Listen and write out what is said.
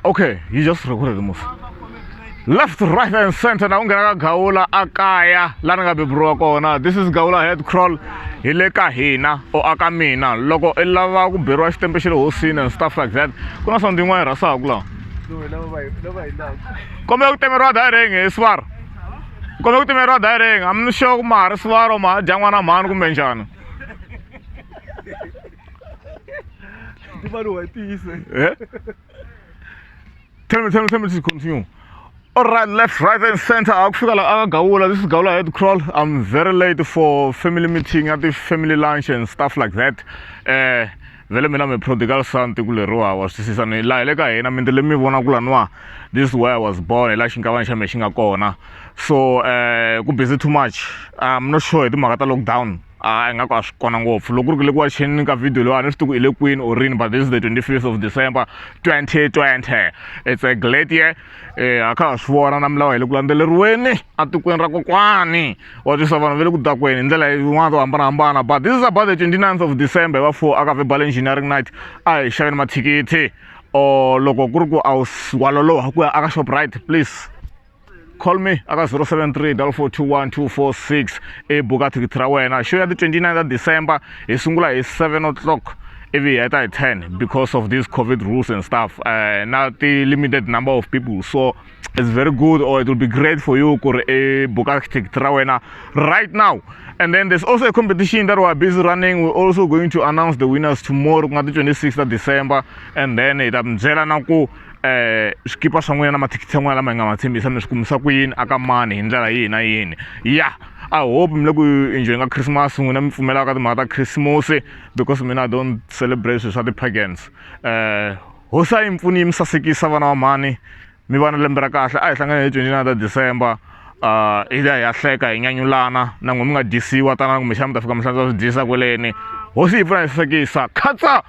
okay you just recorded the movie left right and center na ku nghena ka gawula a kaya la ni nga beburiwa kona this is gawula head crawl hi le ka hina o aka mina loko i lava ku beriwa xitempe xa le hosini and stuff like that ku na something yin'wana yi rhasaku lawa kombe ku temeriwa direng hi swara kombe ku temeriwa direng amni sure ku ma ha ri swara ma ha dya n'wana mhani kumbe njhani Di ba lo ti ise. Eh? Tell me, tell me, tell me to continue. All right, left, right, and center. Akufika la akagawula. This is Gawula head crawl. I'm very late for family meeting at the family lunch and stuff like that. Eh, vele mina mi prodigal son tikuleriwa wa swi twisisa ni laha le ka hina mindi le mi vona ku laniwa this way i was born hi laha xinkavana xa me xi nga kona so um ku busy too much i'm not sure hi timhaka ta lockdown a hi nga ku a swi kona ngopfu loko ku ri ku le ku waxeni ka video leyiwani swi tiku hi le kwini or rini but this is the 25th of december 2020 it's a glad year eh a kha ha swi vona na milawu hi le ku landzeleriweni etikweni ra kokwani wa twisa vanhu va le ku dakweni hi ndlela yin'wana to hambanahambana but this is about the 29th of december hi va four aka verbal engineering night a hi xaveni mathikithi or loko ku ri ku a wu waloloha ku ya aka shoprite please call me aka 073 421 i buka thikithi ra wena show ya ti 29 ta december hi sungula hi 7 o'clock ivi heta hi 10 because of these covid rules and stuff uh, na ti-limited number of people so it's very good or it will be great for you ku ri i eh, buka ticket ra wena right now and then there's also a competition that we're busy running we're also going to announce the winners tomorrow ku nga ti 26 ta december and then hi ta mi byela na ku um swikipa swa n'wina na mathikithi ya n'wina lama hi nga ma tshembisa mi swi kumisa ku yini aka mani hi ndlela yihi na yini ya i hope mi le ku enjoyinga christmas n'wina mi pfumelaka ka timhaka ta khisimusi because mina i don't celebrate swilo swa ti-pagans um hosi a yi mi pfuni yi mi sasekisa vana va mhani mi va na lembe ra kahle a hi hlangane hi twenty nine ta december um hi liya hi ya hleka hi nyanyulana na n'we mi nga dyisiwa tanani kumbexana mi ta fika mi hlantswa swi dyisa kweleni hosi yi pfuna hi sasekisa khatsa